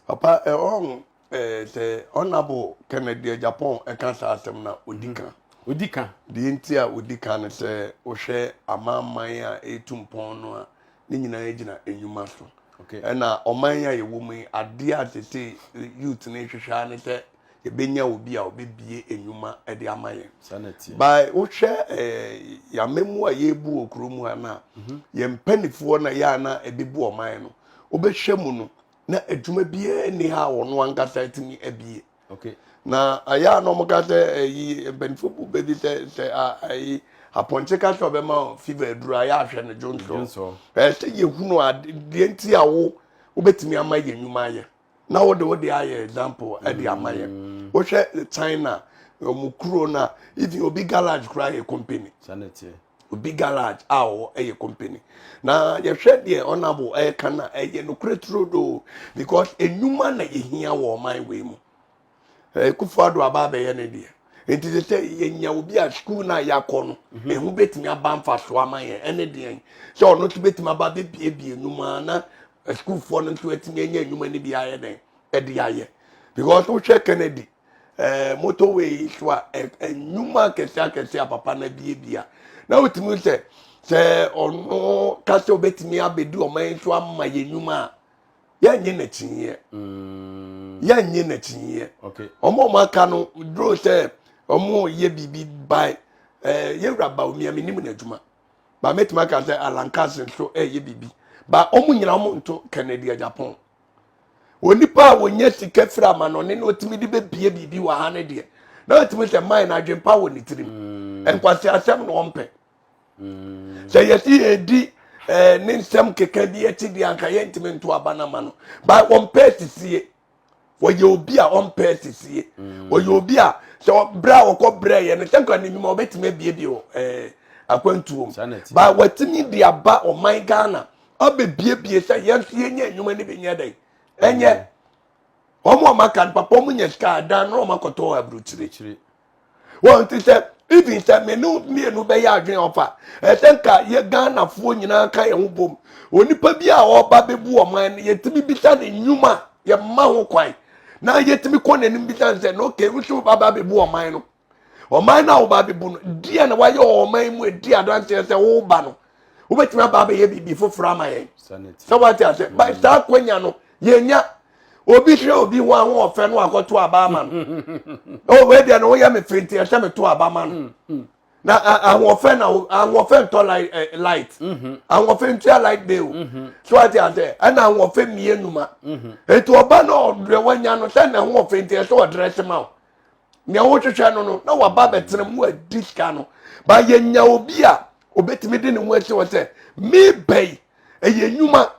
Papa eh ɔn eh sɛ Honourable Kennedy Agyapong ɛka saa asɛm no a ɔdi ka. Ɔdi ka. Deɛ nti a ɔdi ka no sɛ wohwɛ amanaman a ɛretu mpɔn no a ne nyinaa gyina nnwuma so. Ɛna ɔman yi a yɛwɔ mu yi adeɛ a sese youth no rehwehwɛ ara ne sɛ yɛbɛnya obi a ɔbɛbie nnwuma de ama yɛn ba wohwɛ eh, yɛama mu a yɛbu wɔ kuro mu ha no a mhm. yɛn mpanifoɔ na yɛ a na ɛbɛbu ɔman no wobɛhwɛ mu no na adwuma biara nni ha a wɔno ankasa atumi abie na ayɛ a na ɔmoka sɛ ayi eh, mpanifoɔ bu bɛbi sɛ sɛ ayi apɔnkye ka sɛ ɔbɛma fever aduru ayɛ ahwɛ no dwonsɔ ɛɛ sɛ yɛhunu adeɛ nti a wo wobɛtumi ama yɛ nnwuma ayɛ na wode wode ayɛ example ɛde eh, ama yɛ mm. wohwɛ china wɔn kuro na even obi garage koraa yɛ company obi garage a ɔwɔ ɛyɛ company na yɛhwɛ deɛ ɔnabo ɛka na ɛyɛ nokorɛ turo do because enyuma na yɛhia wɔ ɔman wei mu eh, kufu ado aba abɛyɛ ne deɛ nti sɛ sɛ yɛnya obi a sukuu no a yɛakɔ no mhm. ɛho bɛtumi aba mfasoɔ ama yɛn ɛne deɛn sɛ ɔno nso bɛtumi aba bɛbiebie nnwuma na sukuufoɔ no nso atumi anya nnwuma no bi ayɛ dɛn ɛde ayɛ because wohwɛ kennedy eh, motorway so a nnwuma akɛse akɛse a papa no abiebia na wotumi sɛ sɛ ɔno ka sɛ ɔbɛtumi abɛdi ɔman so ama yɛ nnwuma a yɛnyɛ n'akyinyeɛ mm. yɛnyɛ n'akyinyeɛ ɔmo ɔmo aka no duro sɛ ɔmo yɛ biribi ban ɛɛ yɛwura ba omi ɛmi nim n'adwuma ba mɛtumi aka sɛ alankasi nso ɛyɛ biribi ba ɔmo nyina ɔmo nto kennedy japan onipa a wɔnyɛ sika firi ama no ɔne na ɔtumi de bɛbie biribi wɔ ha no deɛ na ɔtumi sɛ man no adwempa wɔ ne tirim mm. nkwasi asɛm na ɔmpɛ Mm. Sɛ yɛsi yɛdi eh, ne nsɛm keka bi akyi deɛ anka yɛntumi nto aba no ama no. Ba ɔmpɛ asisie. Wɔyɛ obi a ɔmpɛ asisie. Mm. Wɔyɛ obi a sɛ berɛ a wɔkɔ brɛ yɛ no sɛ nkwa ne nnwuma wɔbɛtumi abiebie wɔ eh, akwantuo mu. Ba wɔatumi de aba ɔman Ghana abɛbiebie sɛ yɛn nso yɛnyɛ nnwuma no bi nyɛ dɛn. Ɛnyɛ. Mm. wɔn a wɔaka no papa wɔn nya sika adan na wɔn akɔtɔ aburukyire wɔn ti sɛ even sɛ me ne mmienu bɛyɛ adwene ɔfa ɛsɛ nka yɛ ghanafoɔ nyinaa ka yɛn ho bom onipa bi a ɔba bɛbu ɔman no yɛtumi bisa ne nnwuma yɛma ho kwan na yɛtumi kɔ n'anim bisa no sɛ na okay wosi woba ba bɛbu ɔman no ɔman no a woba bɛbu no deɛ na wayɛ wɔ ɔman mu ɛdi adanseɛ sɛ woba no wobɛtumi aba abɛyɛ biribi foforɔ ama yɛn sɛ wate asɛ ba saa kwanya no yɛnya obi hwɛ obi ho ahoɔfɛ no akɔto aba ama no oh, wei deɛ no woyɛ me firi nti ɛhyɛ meto aba ma no mm, mm. na ahoɔfɛ na ahoɔfɛ ntɔ eh, light mm-hmm. ahoɔfɛ ntua light bill mm-hmm. so ate asɛ ɛna ahoɔfɛ mmienu ma mm-hmm. eti ɔba na ɔdrɛ wanya no sɛ na ahoɔfɛ nti ɛsɛ ɔdrɛ se ma o nea wohwehwɛ no no na waba bɛtena mu adi sika no ba yɛnya obi a obetumi de ne ho asi hɔ sɛ mebɛyi ɛyɛ nnwuma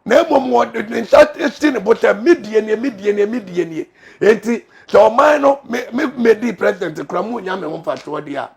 na mmom wɔde ne nsa si ne bo sɛ medie nie medie nie medie nie enti sɛ ɔman no me me medi president kura mu nya me ho mfasoɔ deɛ a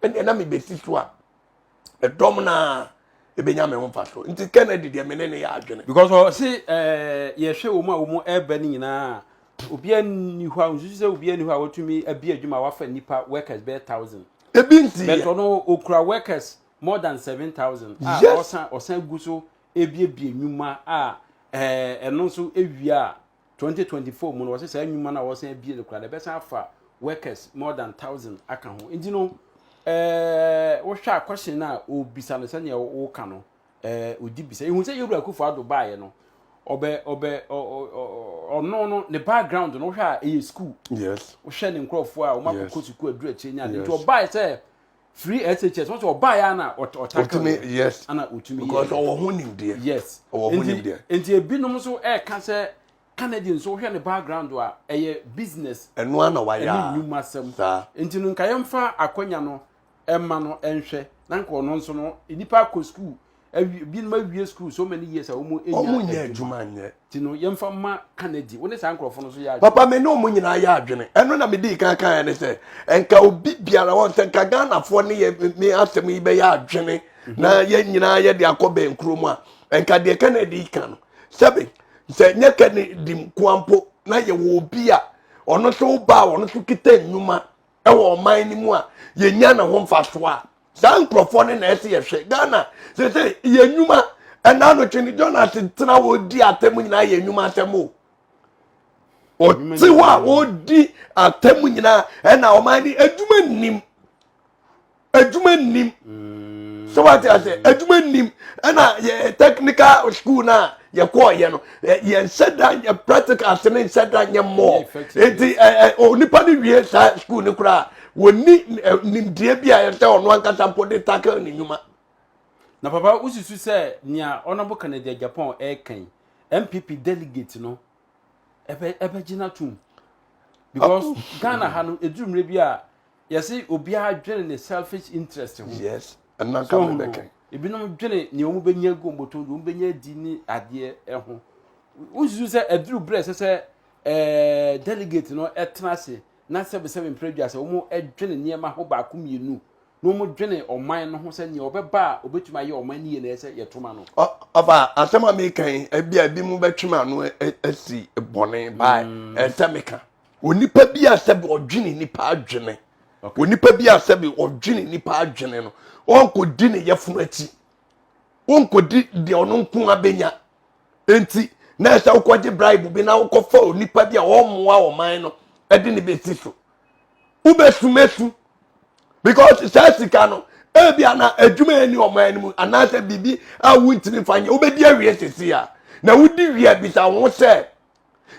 ɛnna na mebɛsi so a ɛdɔm na ɛbɛnya me ho mfasoɔ nti kennedy deɛ me ne ne yɛ adwene. because ɔse ɛɛ yɛhwɛ wɔn a wɔn ɛreba no nyinaa obiara nni hɔ a nsusu sɛ obiara nni hɔ a watumi abi adwuma a wafa nipa workers bɛyɛ thousand. ebi nti yɛ bɛtɔ no okura workers more than seven thousand. a ɔsan ɔsan gu so ebiebie nnwuma a ɛɛ ɛno nso ewia a 2024 mu no wɔsɛ saa nnwuma no a wɔsan abie no koraa no ɛbɛsan afa workers more than thousand aka ho nti no ɛɛ wohwɛ a question no a ɔbisa no sɛnea woka no ɛɛ odi bisa ehu sɛ yɛwura akufo ado baeɛ no ɔbɛ ɔbɛ ɔno no ne background no wohwɛ a ɛyɛ school yes wohwɛ ne nkurɔfoɔ a wɔn akɔkɔ sukuu aduru akyire nya ne nti ɔbaeɛ sɛ firi SHS wɔn sɛ ɔbaa yɛ ana ɔtaka wɔ yes ana otumi yɛ because ɔwɔ ho nimdeɛ yes ɔwɔ ho nimdeɛ nti ebinom nso ɛɛka sɛ Kennedy nso wohwɛ ne background a ɛyɛ business ɛno ana wayɛ ɛne nnwuma sɛm nti no nka yɛmfa akwanya no ɛma no ɛnhwɛ na nka ɔno nso no nipa akɔ sukuu awie binom awie school so many years a wɔn enya adwuma wɔn nyɛ adwuma nyɛ ti no yɛn fa ma kanadi wɔn ne saa nkorɔfo no so yɛ adwuma papa mi ne wɔn nyinaa yɛ adwene ɛno na mi di kan kan yɛ ne sɛ nka obi biara wɔn sɛ nka ghanafoɔ ne yɛ mi asɛm yi bɛyɛ adwene mhm. na yɛn nyinaa yɛ de akɔ bɛn kuro mu a nka deɛ kanadi kan no sɛbi sɛ nyɛ kanadi nkoampo na yɛ wɔ obi a ɔno nso ba a ɔno nso kita nnwuma ɛwɔ ɔman no mu a yɛnya ne ho mfasoɔ a saa nkurɔfoɔ no na ɛsɛ yɛhwɛ ghana sɛ sɛ yɛ nnwuma ɛna anotwe no jonas tena wɔdi atɛm nyinaa yɛ nnwuma atɛm o ɔte hɔ a wɔdi atɛm nyinaa ɛna ɔman no adwuma nnim adwuma nnim sɛ wate ase adwuma nnim ɛna yɛ technical school no a yɛkɔɔyɛ no yɛnhyɛ da yɛ practical se ne nhyɛ da nyɛ mmɔɔ nti onipa no wie saa school no koraa wɔni nimdeɛ bi a ɛsɛ ɔno ankasa mpo de tackle ne nnwuma na papa wosusu sɛ nea ɔnabo kanada japan ɛreka yi mpp delegate no ɛbɛgye no atom because ghana ha no ɛduru mmerɛ bi a yɛsi obiara dwene ne selfish interest ho yes ɛna nka mi bɛkɛ ebinom dwene nea wɔn bɛnya gu wɔn bɔtɔ wɔn bɛnya di ne adeɛ ɛho wosusu sɛ aduru berɛ sɛ sɛ ɛɛ delegate no ɛtena ase na sɛbisɛbi mpere dwa sɛ wɔn ɛdwene nneɛma ho baako mmienu na wɔn dwene ɔman no ho sɛ nea ɔbɛba a ɔbɛtumi ayɛ ɔman no yie na ɛsɛ yɛtoma no. ɔfa asɛm a meka yi ebi a ebi mu bɛtwem ano asi bɔne baa ɛsɛ meka. Onipa bi a sɛbi ɔdwene nipa adwene. Okay. Onipa bi a sɛbi ɔdwene nipa adwene no, ɔnkɔdi ne yɛfunu akyi. Ɔnkɔdi deɛ ɔno nko abɛnya. Enti, na ɛsɛ wokɔgye bribe bi na wokɔfa onipa bi a ɔmmoa ɔman no de ne bɛsi so. Wobɛsumasu. Because saa sika no, ebi a na adwuma ɛni ɔman no mu anaasɛ biribi a wontumi fa nyɛ wobɛdi awie sisi a na wodi wie a bisa wo ho sɛ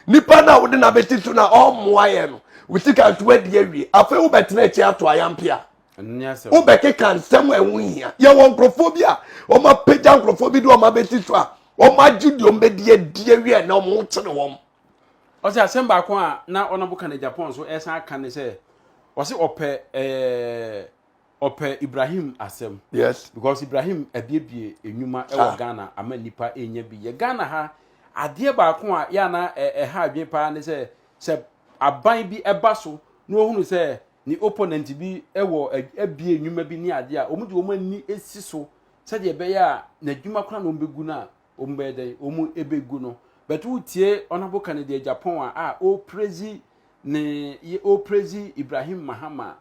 nipa no a wode no abɛsi so na ɔmmoa yɛ no wo sika nso adi awie afei wobɛtena akyi ato ayampe a wobɛkeka nsɛm a ɛho hia yɛwɔ nkurɔfoɔ bi a wɔapagya nkurɔfoɔ bi de wɔn abɛsi so a wɔagye deɛ wɔbɛdi adi awie na wɔn ho kyene wɔn ɔsɛ asɛm baako a na ɔnabo ka no japan so ɛsan aka ne sɛ ɔsɛ ɔpɛ ɛɛ ɔpɛ Ibrahim asɛm. Yes. Because Ibrahim abiebie nnwuma wɔ ah. Ghana ama nipa enya bi. Yɛ Ghana ha adeɛ baako a yɛ ana ɛha adwene paa ne sɛ sɛ aban bi ɛba so na ohunu sɛ ne opponent bi wɔ abie nnwuma bi ne adeɛ a wɔn de wɔn ani esi so sɛdeɛ ɛbɛyɛ a n'adwuma kora na wɔn bɛgu no a wɔn bɛyɛ dɛn wɔn bɛgu no bɛto wotie ɔnabo ka ne deɛ Japan a a ɔreprezi ne ɔreprezi Ibrahim Mahama.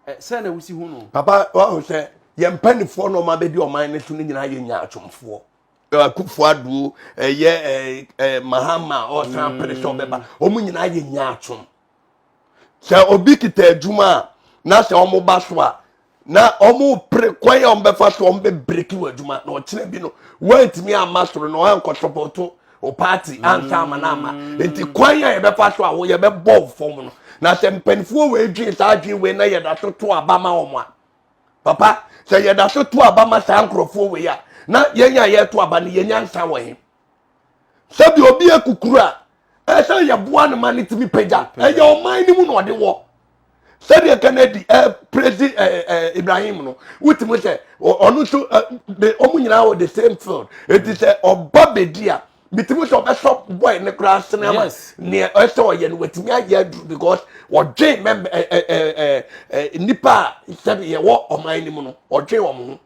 sɛ na wosi hu no papa wahu sɛ yɛn mpanimfoɔ na ɔma bɛdi ɔman no so no nyinaa yɛ nyaatwomfoɔ akufo aduo ɛyɛ mahama ɔsan pere sɛ ɔbɛba wɔn mm. nyinaa yɛ nyaatwom sɛ obi kita adwuma a na sɛ wɔn ba so a na wɔn pere kwan a wɔn bɛfa so wɔn bɛ breki wɔ adwuma na ɔkyerɛ bi no wɔntumi ama soro na wɔankɔ sɔpɔtɔ o party anka ama no ama nti kwan a yɛbɛfa so a wo yɛbɛbɔ wo fam no na sɛ mpanimfoɔ wei dwen saa dwen wei na yɛda so to aba ma wɔn a papa sɛ yɛda so to aba ma saa nkurɔfoɔ wei a na yɛn a yɛto aba no yɛnya nsa wɔ he sɛbi obi akukuru a ɛsɛ yɛboa no ma no tumi pagya ɛyɛ ɔman no mu na ɔde wɔ sɛdeɛ kennedy ɛpresi eh, ɛɛ eh, eh, ibrahim no wotumi sɛ ɔno nso de ɔmo nyinaa wɔ the same field eti sɛ ɔba bedi a bitumi sɛ ɔbɛsɔ boy ne koraa sene ama Yes. nea ɛsɛ ɔyɛ no watumi ayɛ aduru because ɔdwen mɛmɛ ɛ ɛ ɛ ɛ ɛ nipa a sɛbi yɛwɔ ɔman no mu no ɔdwen wɔn ho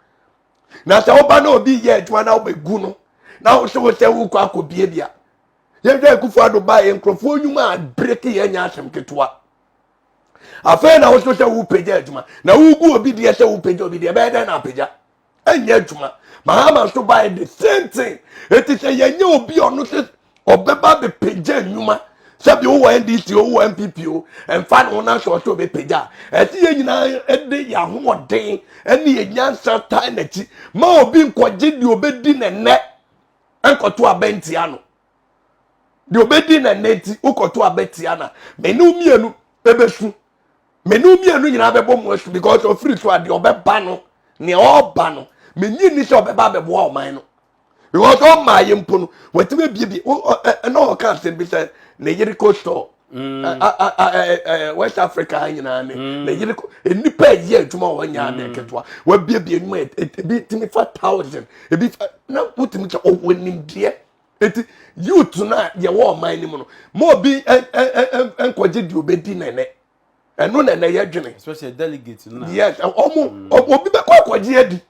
na sɛ ɔba na obi yɛ adwuma na ɔbɛgu no na ɔsɛ ɔsɛ wokɔ akɔbie bi a yɛhwɛ akufo ado ba yɛ nkurɔfoɔ nnwuma a breki yɛ nyɛ asɛm ketewa afei na woso sɛ wopagya adwuma na wogu obi deɛ sɛ wopagya obi deɛ ɛbɛyɛ dɛn na apagya ɛnyɛ adwuma mahama nso baɛ the same thing ɛti sɛ yɛnyɛ obi ɔno sɛ ɔbɛba bɛpagya nnwuma sɛbi wowɔ ndc wowɔ npp o ɛmfa ne ho na sɛ ɔsɛ ɔbɛpagya a ɛsɛ yɛ nyinaa de yɛ ahoɔden ne yɛ nyansa tae n'akyi ma obi nkɔgye deɛ ɔbɛdi ne nnɛ nkɔto abɛ ntia no deɛ ɔbɛdi na nnɛ nti wokɔto abɛ tia na mene wo mmienu ɛbɛsu mene wo mmienu nyinaa bɛbɔ mu asu because ɔfiri so a deɛ ɔbɛba no nea ɔreba no menye nni sɛ ɔbɛba abɛboa ɔman no because ɔmaa yɛ mpo no watumi abiebie ɛna ɔka asɛm bi sɛ ne yere kɔ store Mm. west africa ha nyinaa ne mm. ne yere nnipa ɛyɛ adwuma wɔ nyɛ adɛ mm. nketewa wabiabia nnwuma e, e, ebi tumi fa thousand ebi fa na wotumi kyɛ ɔwɔ nimdeɛ eti youth no a yɛwɔ ɔman no mu no ma obi nkɔgye deɛ obɛdi nɛnɛ ɛno nɛnɛ yɛ dwene yes ɔmo obi bɛkɔ akɔgye adi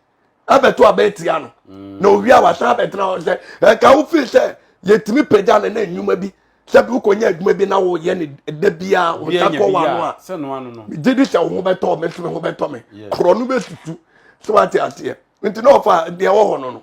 abɛto abɛn tia no mm. na owia wasan abɛtena hɔ sɛ ɛka wo feel sɛ yɛtumi pagya no na nnwuma bi sɛ bi wokɔnya adwuma bi na woyɛ ne da biaa wota kɔ wano a megye di sɛ wo ho bɛtɔ me so me ho bɛtɔ me korɔ no bɛsusu sɛ wate aseɛ nti na ɔfa deɛ wɔ hɔ no no